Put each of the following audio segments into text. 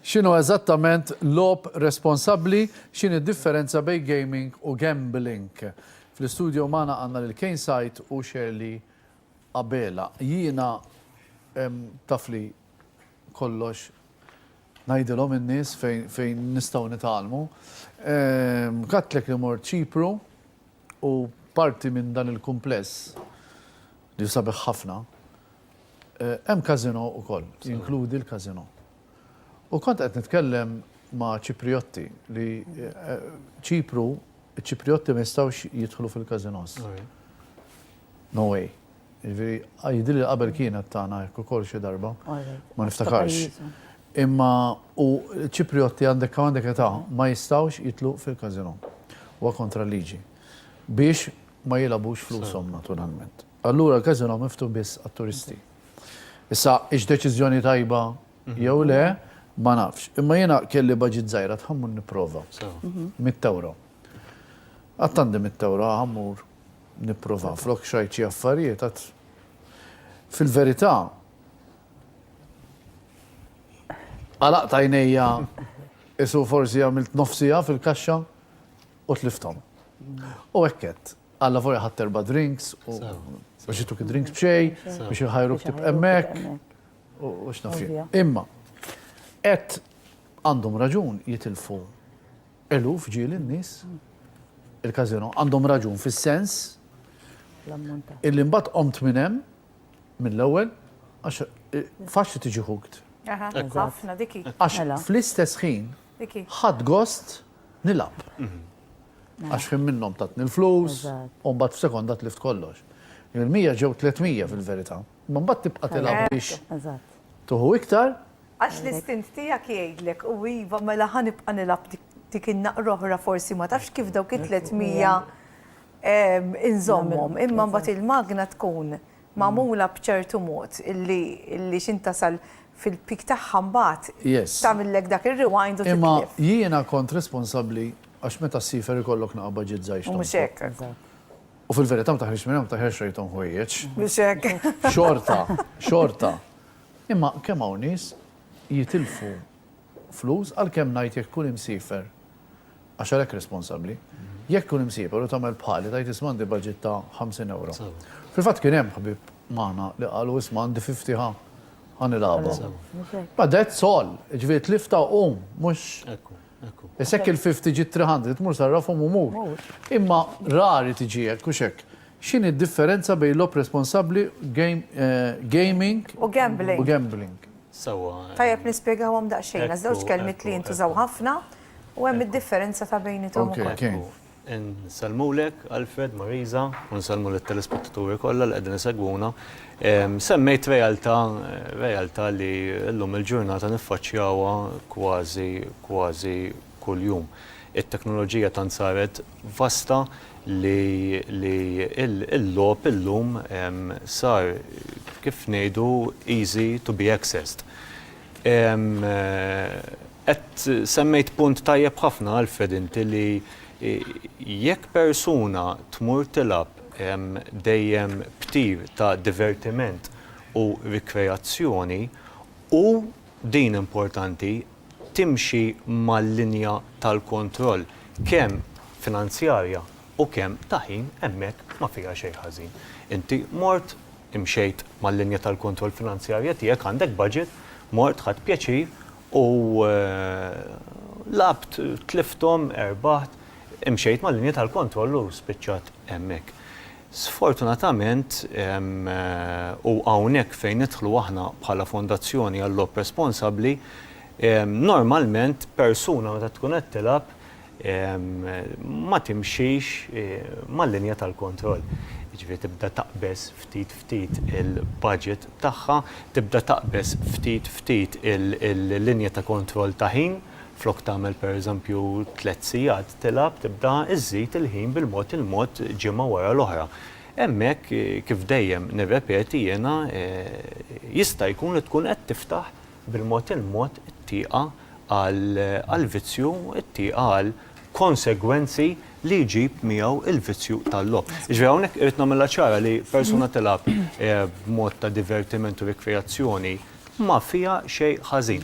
X'inhu eżattament lob responsabbli, x'in id-differenza bejn gaming u gambling. Fl-istudio magħna għandna lil Kane Sajt u Shirley Abela. Jiena tafli kollox ngħidilhom in-nies fejn nistgħu nitgħallmu. Kattlek li mort Ċipru u parti minn dan il-kumpless li sabiħ ħafna, eh, hemm kazino ukoll, jinkludi l-kazino. U kont qed nitkellem ma' Ċipriotti li eh, Ċipru, Ċipriotti ma jistgħux jidħlu fil-kazinos. No way. Jiġifieri, jidhirli li qabel kienet tagħna hekk ukoll xi darba. Ma niftakarx. Imma u ċiprijotti għandek kemm għandek età ma jistgħux jidħlu fil-każinò. Huwa kontra l-liġi. Biex ma jilgħabux flushom naturalment. Allura l-każinò miftuħ biss għat-turisti. Issa hix deċiżjoni tajba jew le ma nafx. Imma jiena kelli baġit żgħira tħammur nipprova. Mitt ewro. Qatt għandi mitt ewro ħammur. Nipprova flok x'għid xi affarijiet għad fil-verità għalaqt għajnejja isu forsi għamilt nofsija fil-kaxxa u tlifthom. U hekk għedt. Alla volja ħadd erba' drinks u biex jituk id-drinks b'xej, biex jħajru ktib emmek, u x'naf Imma, qed għandhom raġun jitilfu Eluf ġieli n-nies il-Casino għandhom raġun fis-sens illi mbagħad qomt minn hemm mill-ewwel għax eh, faċli tiġi hooked. Ħafna diki. Għax mela. fl-istess ħin ħadd gost nilab. Mhm. Mela. Għax ħin minnhom tatni l-flus u mbagħad f'sekonda tlift kollox. Il-100 ġew 300 fil-verità. Ma mbagħad tibqa' tilab biex tuħu iktar Għax l-istint tiegħek jgħidlek, u iva, mela ħa nibqa' nilgħab dik in-naqra oħra forsi ma tafx kif dawk it-tliet mija inżommhom. Imma mbagħad il-magna tkun magħmula b'ċertu mod illi x'int tasal fil-peak tagħha mbagħad tagħmillek dak ir-rewind u titlef. Imma jiena kont responsabbli għax meta ssifer ikollok naqa' budget żgħir x'tonfoq. Mhux hekk. U fil-verità ma taħriġx minn hemm, ma taħriġx rejthom ħwejjeġ. Mhux hekk. Xorta, xorta. Imma kemm hawn nies jitilfu flus għalkemm ngħid jekk tkun imsiefer, għax għalhekk responsabbli, jekk tkun imsiefer u tagħmel bħali tgħid isma' għandi budget ta' ħamsin ewro. Fil-fatt kien hemm ħbieb magħna li qalu isma' għandi fifty ħa ħa nilgħabha. Ma that's all, jiġifieri tliftha u qum, mhux Issa jekk il-fifty ġiet three hundred, mur sarrafhom u mur. Imma rari tiġi hekk, hux hekk? X'inhi d-differenza bejn logħob responsabbli, gaming, u gambling? Sewwa. Tajjeb nispjegawhom daqsxejn għax żewġ kelmiet li jintużaw ħafna u hemm id-differenza ta' bejniethom ukoll. Insellmulek Alfred, Marisa, u nsellmu lit-telespettaturi kollha li qegħdin isegwuna. Semmejt realtà, realtà li llum il-ġurnata niffaċċjawha kważi, kważi kuljum. It-teknoloġija tant saret vasta li li l-logħob illum sar kif ngħidu easy to be accessed. Qed semmejt punt tajjeb ħafna Alfred inti li jekk persuna tmur tilgħab dejjem b'tir ta' divertiment u rikreazzjoni u din importanti timxi mal-linja tal-kontroll kemm finanzjarja u kemm ta' ħin hemmhekk ma fiha xejn ħażin. Inti mort, imxejt mal-linja tal-kontroll finanzjarja tiegħek, għandek budget, mort ħadt pjaċir u lgħabt, tlifthom, erbaħt, imxejt mal-linja tal-kontroll u spiċċat hemmhekk. Sfortunatament, u hawnhekk fejn nidħlu aħna bħala Fondazzjoni għal-Logħob Responsabbli, normalment persuna meta tkun qed tilgħab ma timxix mal-linja tal-kontroll. Jiġifieri tibda taqbeż ftit ftit il-budget tagħha, tibda taqbeż ftit ftit il-linja ta' kontroll ta' ħin, Flok tagħmel pereżempju tliet sigħat tilgħab tibda żżid il-ħin bil-mod il-mod ġimgħa wara l-oħra. Hemmhekk, kif dejjem nirrepeti jiena, jista' jkun li tkun qed tiftaħ bil-mod il-mod it-tieqa għall-vizzju, it-tieqa għal konsegwenzi li jġib miegħu l-vizzju tal-logħob. Jiġifieri hawnhekk irrid nagħmilha ċara li persuna tilgħab b'mod ta' divertiment u rikreazzjoni ma fiha xejn ħażin.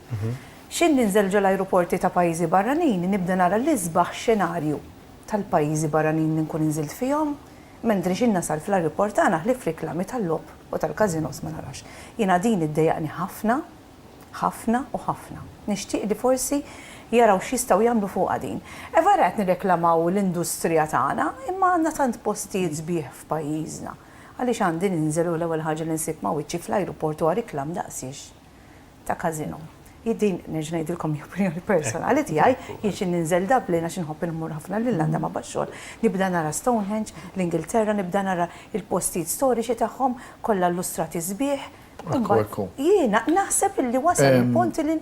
X'ħin ninżel ġo l-ajruporti ta' pajjiżi barranin nibda nara l-isbaħ xenarju tal-pajjiżi barranin li nkun inżilt fihom, mentri x'ħin nasal fl-ajruport tagħna ħlief riklami tal-logħob u tal-każinos ma narax. Jiena din iddejjaqni ħafna, ħafna u ħafna. Nixtieq li forsi jaraw x'jistgħu jagħmlu fuqha din. Vera qed nirreklamaw l-industrija tagħna imma għandna tant postijiet sbieħ f'pajjiżna. Għaliex għandi ninżel u l-ewwel ħaġa li nsib ma' wiċċi fl-ajruport huwa riklam daqsiex? ta' każino. Hi din, nerġa' ngħidilkom hi opinjoni personali tiegħi, jien xi ninżel Dublin għax inħobb inmur ħafna l-Irlanda ma' bax-xogħol, nibda nara Stonehenge, l-Ingilterra, nibda nara l-postijiet storiċi tagħhom kollha llustrati sbieħ, imbagħad jiena naħseb illi wasal il-punt li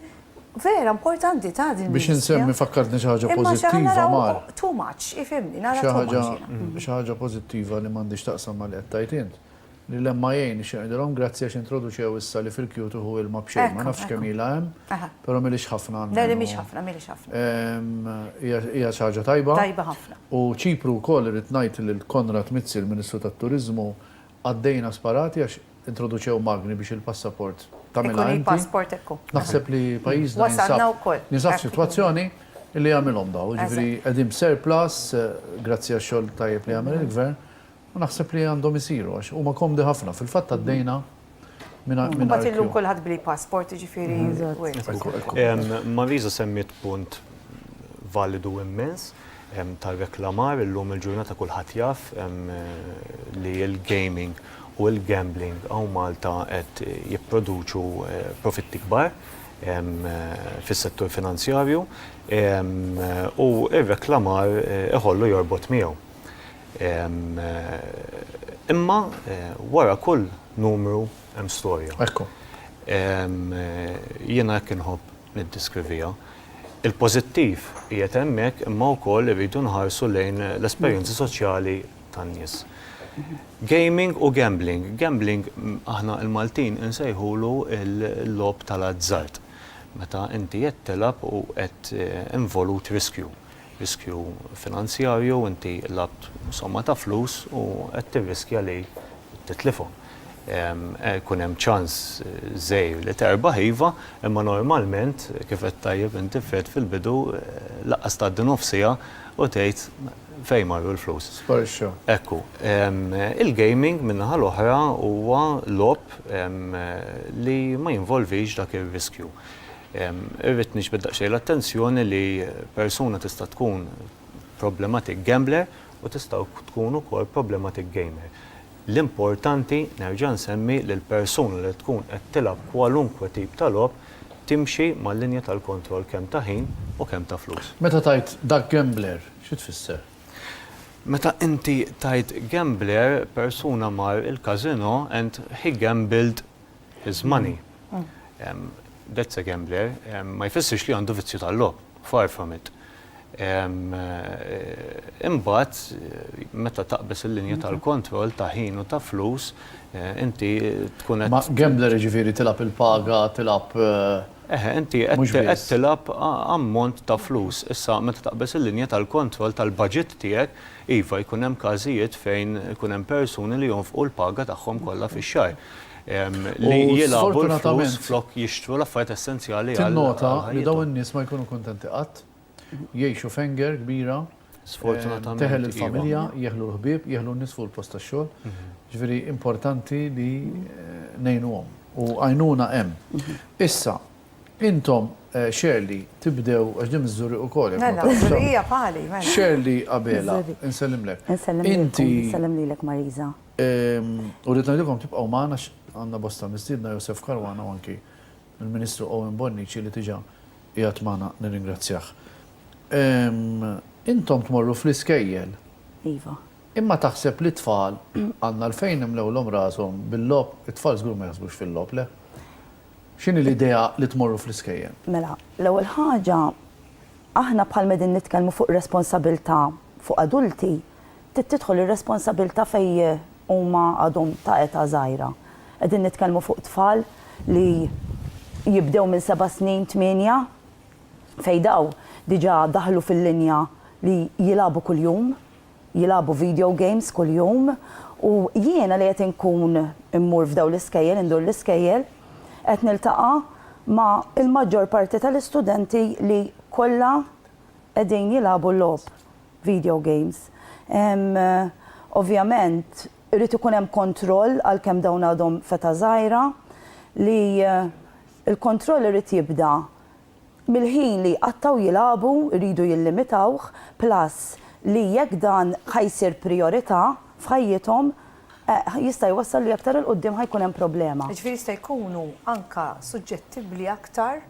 vera importanti ta' din l-industrija. Biex insemmi fakkartni xi ħaġa pożittiva mar. Too much, ifhimni, nara too much jiena. Xi ħaġa pożittiva li m'għandhiex x'taqsam ma' li qed tgħid int. Lill-MIA nixtieq ngħidilhom grazzi għax introduċew issa li fil-Q tieħu ilma b'xejn, ma nafx kemm ilha hemm, però mhilhiex ħafna almenu. Le, le mhix ħafna, mhilhiex ħafna. Hija xi ħaġa tajba. Tajba ħafna. U Ċipru wkoll irrid ngħid lil Konrad Mizzi, l-Ministru tat-Turiżmu, għaddejna sparati għax introduċew magni biex il-passaport tagħmilha inti. Ikun il-passport hekk hu. Naħseb li pajjiżna jinsab f'sitwazzjoni li jagħmilhom dawn, jiġifieri qegħdin b'surplus grazzi għax-xogħol tajjeb li jagħmel il-Gvern. U naħseb li għandhom isiru għax huma komdi ħafna. Fil-fatt għaddejna minn mingħajr queue. Imbagħad illum kulħadd bl-e-passport, jiġifieri wirt. Marisa semmiet punt validu immens tar-reklamar. Illum il-ġurnata kulħadd jaf li l-gaming u l-gambling hawn Malta qed jipproduċu profitti kbar fis-settur finanzjarju u r-reklamar iħollu jorbot miegħu. Imma wara kull numru hemm storja. Ekku. Jiena hekk inħobb niddiskrivija. Il-pożittiv qiegħed hemmhekk imma wkoll irridu nħarsu lejn l-esperjenzi soċjali tan-nies. Gaming u gambling. Gambling aħna l-Maltin insejħulu l-logħob tal-azzard. Meta inti qed tilgħab u qed involut riskju. riskju finanzjarju, inti labt somma ta' flus u qed tirriskja li titlifhom. Ikun hemm ċans żgħir li terbaħ iva, imma normalment, kif għedt tajjeb inti Fred fil-bidu, lanqas tgħaddi nofs siegħa u tgħid fejn marru l-flus. Sparixxew. Hekk hu. Il-gaming min-naħa l-oħra huwa logħob li ma jinvolvix dak ir-riskju. Irrid niġbed daqsxejn l-attenzjoni li persuna tista' tkun problematic gambler u tista' tkun ukoll problematic gamer. L-importanti, nerġa' nsemmi, li l-persuna li tkun qed tilgħab kwalunkwe tip ta' logħob timxi mal-linja tal-kontroll kemm ta' ħin u kemm ta' flus. Meta tgħid dak gambler, xi tfisser? Meta inti tgħid gambler, persuna mar il-casino and he gambled, his money. That's a gambler. Ma jfissirx li għandu vizzju tal-logħob, far from it. Imbagħad meta taqbeż il-linja tal-kontroll ta' ħin u ta' flus, inti tkun qed. Ma gambler jiġifieri tilgħab il-paga, tilgħab. Eħe, inti qed tilgħab ammont ta' flus. Issa meta taqbeż il-linja tal-kontroll tal-baġit tiegħek, Iva, jkun hemm każijiet fejn ikun hemm persuni li jonfqu l-paga tagħhom kollha fix-xahar li jilgħabu l-flus flok jixtru l-affarijiet essenzjali għal ħajjithom. Tinnota li dawn in-nies ma jkunu kuntenti qatt. Jgħixu f'henger kbira. Sfortunatament. Teħel il-familja, jeħlu l-ħbieb, jeħlu n-nies fuq il-post tax-xogħol. Jiġifieri importanti li ngħinuhom. U għajnuna hemm. Issa, Intom, Shirley, tibdew, għax din miż-Żurrieq ukoll. Mela, Żurrieqija bħali, mela. Shirley Abela, insellimlek. Insellem lilkom, insellem lilek Marisa. U rrid ngħidilkom tibqgħu magħna għax għandna bosta mistiedna, Josef Caruana u anki l-Ministru Owen Bonnici li diġà qiegħed magħna, nirringrazzjah. Intom tmorru fl-iskejjel. Iva. Imma taħseb li t-tfal għandna għalfejn nimlewlhom rashom bil-logħob, it-tfal żgur ma jaħsbux fil-logħob, le? X'inhi l-idea li tmorru fl-iskejjel? Mela, l-ewwel ħaġa, aħna bħalma qegħdin nitkellmu fuq responsabilità fuq adulti, trid tidħol ir-responsabilità fejn huma għadhom ta' età żgħira. Qegħdin nitkellmu fuq tfal li jibdew minn seba' snin, tmienja, fejn dawn diġà daħlu fil-linja li jilagħbu kuljum. jilagħbu video games kuljum u jiena li qed inkun immur f'dawn l-iskejjel, indur l-iskejjel, qed niltaqa' ma' il-maġġor parti tal-istudenti li kollha qegħdin jilagħbu logħob video games. Ovvjament irid ikun hemm kontroll għalkemm dawn għadhom f'età żgħira li l-kontroll irid jibda mill-ħin li jqattgħu jilagħbu jridu jillimitawh plus li jekk dan ħa jsir prijorità f'ħajjithom jista' jwassal li aktar 'il quddiem ħa jkun hemm problema. Jiġifieri jista' jkunu anke suġġettibbli aktar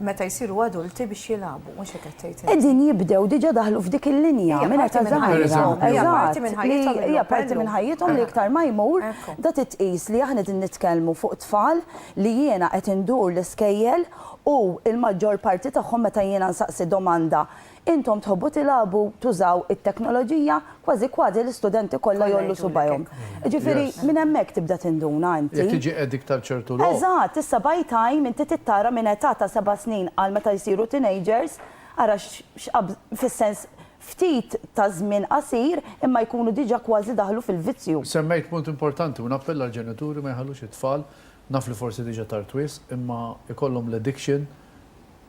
meta jsiru adulti biex jilagħbu, mhux hekk qed tgħid int? Qegħdin jibdew diġà daħlu f'dik il-linja minn età żgħira. Hija parti minn ħajjithom illum. Hija parti minn ħajjithom li iktar ma jmur da titqies li aħna qegħdin nitkellmu fuq tfal li jiena qed indur l-iskejjel u l-maġġor parti tagħhom meta jiena nsaqsi domanda, intom tħobbu tilagħbu, tużaw it-teknoloġija, kważi kważi l-istudenti kollha jgħollu subgħajhom. Jiġifieri minn hemmhekk tibda tinduna inti. Jekk tiġi addict għal ċertu logħob. Eżatt, issa by time inti trid tara minn età ta' seba' snin għal meta jsiru teenagers, ara fis-sens ftit ta' żmien qasir imma jkunu diġà kważi daħlu fil-vizzju. Semmejt punt importanti u nappella għall-ġenituri ma jħallux it-tfal, naf li forsi diġà tard wisq, imma jkollhom l-addiction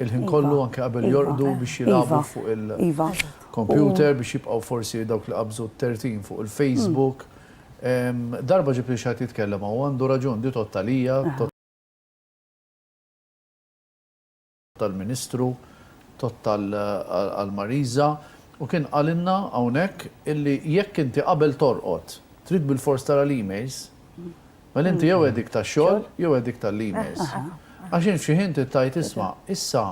il-ħin kollu anke qabel jorqdu biex jilagħbu fuq il-kompjuter biex jibqgħu forsi dawk li qabżu t-tertin fuq il-Facebook. Darba ġibtli xi ħadd jitkellem hawn u għandu raġun, di tgħodd għalija, tal-Ministru Todd għal Marisa u kien qalilna hawnhekk illi jekk inti qabel torqod trid bilfors tara l-emails, mela inti jew għedik tax-xogħol jew għedik tal-emails. Għax int f'xi ħin trid tgħid isma' issa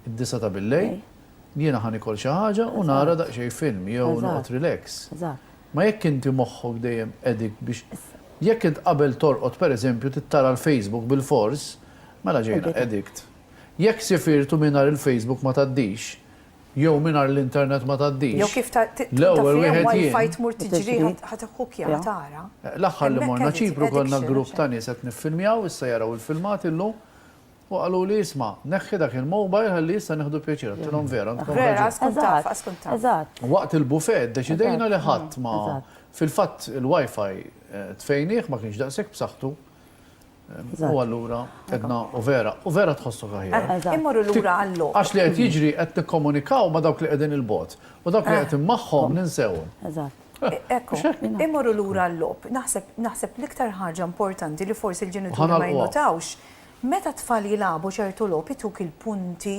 d-disgħa ta' billejl, jiena ħa nikol xi ħaġa u nara daqsxejn film jew noqgħod relax. Ma jekk inti moħħok dejjem qegħdik biex jekk int qabel torqod pereżempju trid tara l-Facebook bilfors, mela ġejna addict. Jekk sifirt u mingħajr il-Facebook ma tgħaddix, jew mingħajr l-internet ma tgħaddix, l-ewwel wieħed jien. L-aħħar li morna Ċipru konna grupp ta' nies qed niffilmjaw, issa jaraw il-filmati llum, u qaluli isma', neħħi dak il-mobile ħalli issa nieħdu pjaċir, għedtilhom vera, għandkom raġun. Waqt il-buffet ddeċidejna li ħadd ma, fil-fatt il-WiFi tfejnih ma kienx daqshekk b'saħħtu, U allura edna u vera, u vera tħossok aħjar. Immorru lura għall-logħob. Għax li qed jiġri qed nikkomunikaw ma' dawk li qegħdin il-bogħod. U dawk li qegħdin magħhom ninsewhom. Eżatt. Ekku, immorru lura għall-logħob. Naħseb l-iktar ħaġa importanti li forsi l-ġenituri ma jinnotawx, meta t-tfal jilagħbu ċertu logħob ituk il-punti,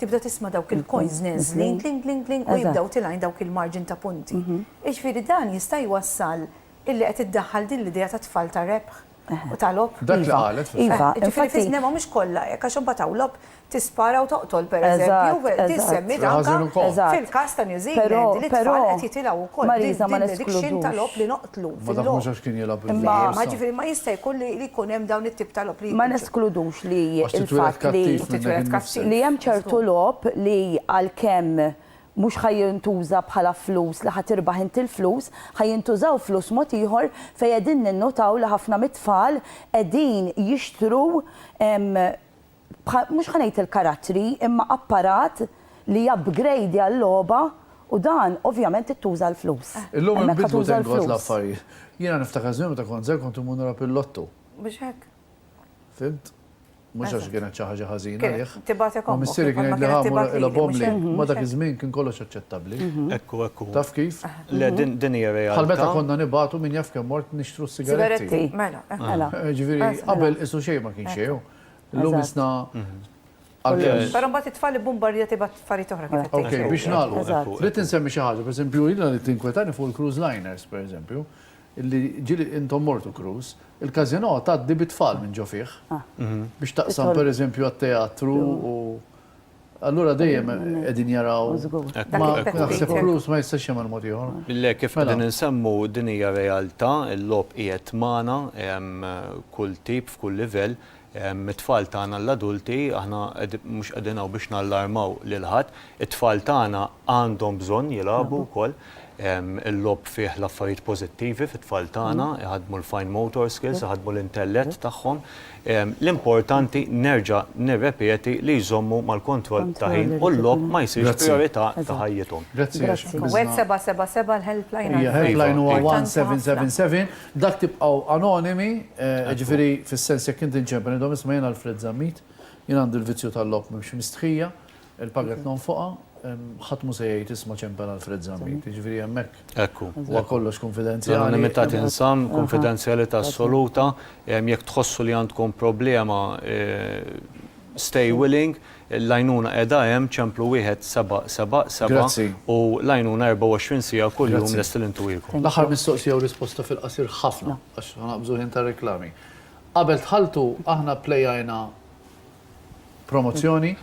tibda tisma' dawk il-coins neżlin, kling, kling, kling, u jibdew tilgħin dawk il-marġin ta' punti. Jiġifieri dan jista' jwassal illi qed iddaħħal din l-idea tat-tfal ta' rebħ. u ta' logħob. Dak li qalet fil-fatt. Iva, iva. Ġifieri fis-snema mhumiex kollha hekk għax imbagħad hawn logħob tispara u toqtol pereżempju, din semmiet anke fil-każ ta' New Zealand li t-tfal qed jitilgħu wkoll din l-addiction ta' logħob li noqtlu. Ma daħħux għax kien jilgħab bil-logħob. Ġifieri ma jista' jkun li jkun hemm dawn it-tip ta' logħob li. Ma neskludux li l-fatt li hemm ċertu logħob li għalkemm Mhux ħa jintuża bħala flus li ħa tirbaħ int il-flus, ħa jintużaw flus mod ieħor fejn qegħdin ninnutaw li ħafna mit-tfal qegħdin jixtru mhux ħa ngħid il-karattri imma apparat li japgrejdja l-logħba u dan ovvjament ittuża l-flus. Illum inbidlu thank God l-affarijiet. Jiena niftakar żmien meta kont żgħir kont immur nilgħab il-lotto. Mhux hekk? Fhimt? Mhux għax kienet xi ħaġa ħażina għalih. Tibgħatek ommok. Ma missierri kien jgħidli ħa mur ilgħob ommli. Ma dak iż-żmien kien kollox aċċettabbli. Ekku, ekku. Taf kif? Le, din hija realtà. Bħal meta konna nibgħatu min jaf kemm mort nixtru s-sigaretti. Sigaretti, mela, mela. Ġifieri, qabel qisu xejn ma kien xejn. Illum isna għalkemm. Però mbagħad it-tfal ibbumbarja tibgħat affarijiet oħra kif qed tgħid. Biex nagħlqu. Rrid insemmi xi ħaġa, pereżempju, jiena li tinkwetani fuq il-cruise liners, pereżempju. Illi ġieli intom mortu Cruz, il-Casino tgħaddi bit-tfal minn ġo fih. Biex taqsam per eżempju għat-teatru u allura dejjem qegħdin jaraw. Ma naħseb Cruz ma jistax jagħmel mod ieħor. Le kif qegħdin insemmu din hija realtà, il-logħob qiegħed magħna, kull tip f'kull livell, It-tfal tagħna l-adulti, aħna mhux qegħdin hawn biex nallarmaw lil ħadd, it-tfal tagħna għandhom bżonn jilagħbu wkoll. Il-logħob fih l-affarijiet pożittivi fit-tfal tagħna, iħaddmu l-fine motor skills, iħaddmu l-intellett tagħhom. L-importanti, nerġa' nirrepeti, li jżommu mal-kontroll ta' ħin u l-logħob ma jsirx prijorità ta' ħajjithom. Grazzi. 1777 l-helpline għal. Helpline huwa 1777. Dak tibqgħu anonimi, jiġifieri fis-sens jekk inti nċempen idhom isma' jien Alfred Zammit, jien għandi l-vizzju tal-logħob m'hemmx mistħija, il-paga qed nonfoqha, ħadd mhu se jgħid isma' ċempen Alfred Zammit, jiġifieri hemmhekk huwa kollox kunfidenzjali. L-anonimità tinżamm, kunfidenzjalità assoluta, jekk tħossu li għandkom problema stay willing, L-għajnuna qiegħda hemm, ċemplu wieħed seba' seba' seba', u l-għajnuna 24 siegħa kuljum lesti li ntuwiekom. L-aħħar mistoqsija u risposta fil-qasir ħafna, għax ħanaqbżu ħin tar-reklami. Qabel dħaltu aħna pplejajna promozzjoni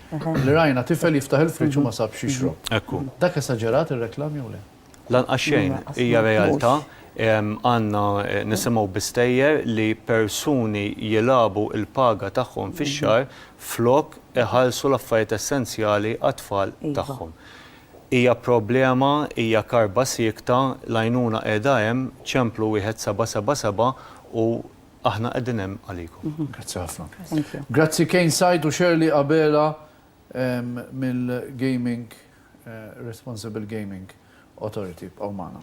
li rajna tifel jiftaħ il-friġġ u ma sabx x'jixrob. Dak esaġerat ir-reklam jew le? Lanqas xejn, hija realtà. Għandna nisimgħu bi stejjer li persuni jilagħbu l-paga tagħhom fix-xahar flok iħallsu l-affarijiet essenzjali għat-tfal tagħhom. Hija problema, hija karba siekta, l-għajnuna qiegħda hemm, ċemplu 1777 u aħna qegħdin hemm għalikom. Grazzi ħafna. Grazzi Kane Said u Shirley Abela mill-Gaming. Responsible Gaming Authority. Ibqgħu magħna.